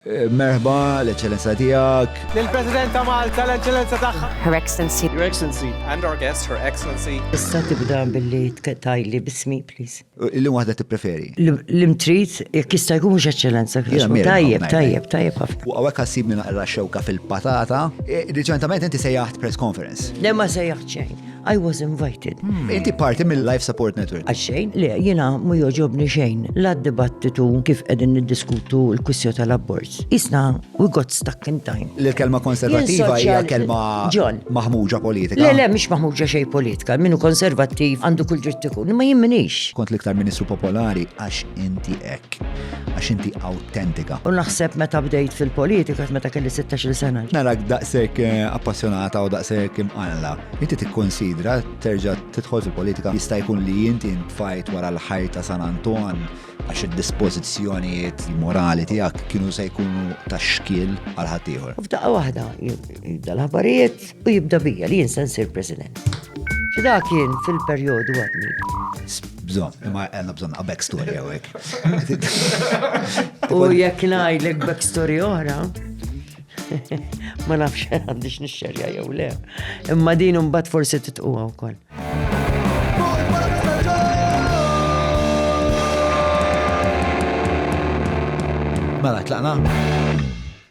Merħba, l-Eċċellenza Tiegħek. Lill-President ta' Malta, l-Eċċellenza tagħha. Her Excellency. Your Excellency. And our guest, Her Excellency. Tista' tibda billi tgħidli b'ismi, please? Illum waħda tippreferi? L-imtrid, jekk jista' jkun mhux Eċċellenza. Tajjeb, tajjeb, tajjeb ħafna. U hawnhekk ħassibni naqra xewka fil-patata. Riċentament inti sejjaħt press conference. Le ma sejjaħt xejn. I was invited. Hmm. Inti parti mill-Life Support Network. Għaxxejn, le, jena mu joġobni xejn. La dibattitu kif edin niddiskutu l-kwissju tal-abort. Isna, we got stuck in time. L-kelma konservativa hija kelma maħmuġa politika. Le, le, mish maħmuġa xej politika. Minu konservativ għandu kull dritt ikun, ma jimminix. Kont l-iktar ministru popolari għax inti ek, għax inti autentika. U naħseb meta bdejt fil-politika, meta kelli 16 sena. Narak daqsek eh, appassjonata u daqsek imqalla. Inti tikkunsidra terġa' tidħol fil-politika? Jista' jkun li inti ntfajt wara l-ħajt ta' San Anton għax id-dispożizzjonijiet morali tiegħek kienu se jkunu ta' xkiel għal ħaddieħor. U f'daqqa waħda jibda l-aħbarijiet u jibda bija li jinsa nsir President. Xi dak kien fil-perjodu għadni. Bżon, imma għanna bżon a backstory għawek. U jek najdlek backstory oħra, Ma nafx għandix nixxerja jew le. Imma din imbagħad forsi titquha wkoll. Mela tlaqna.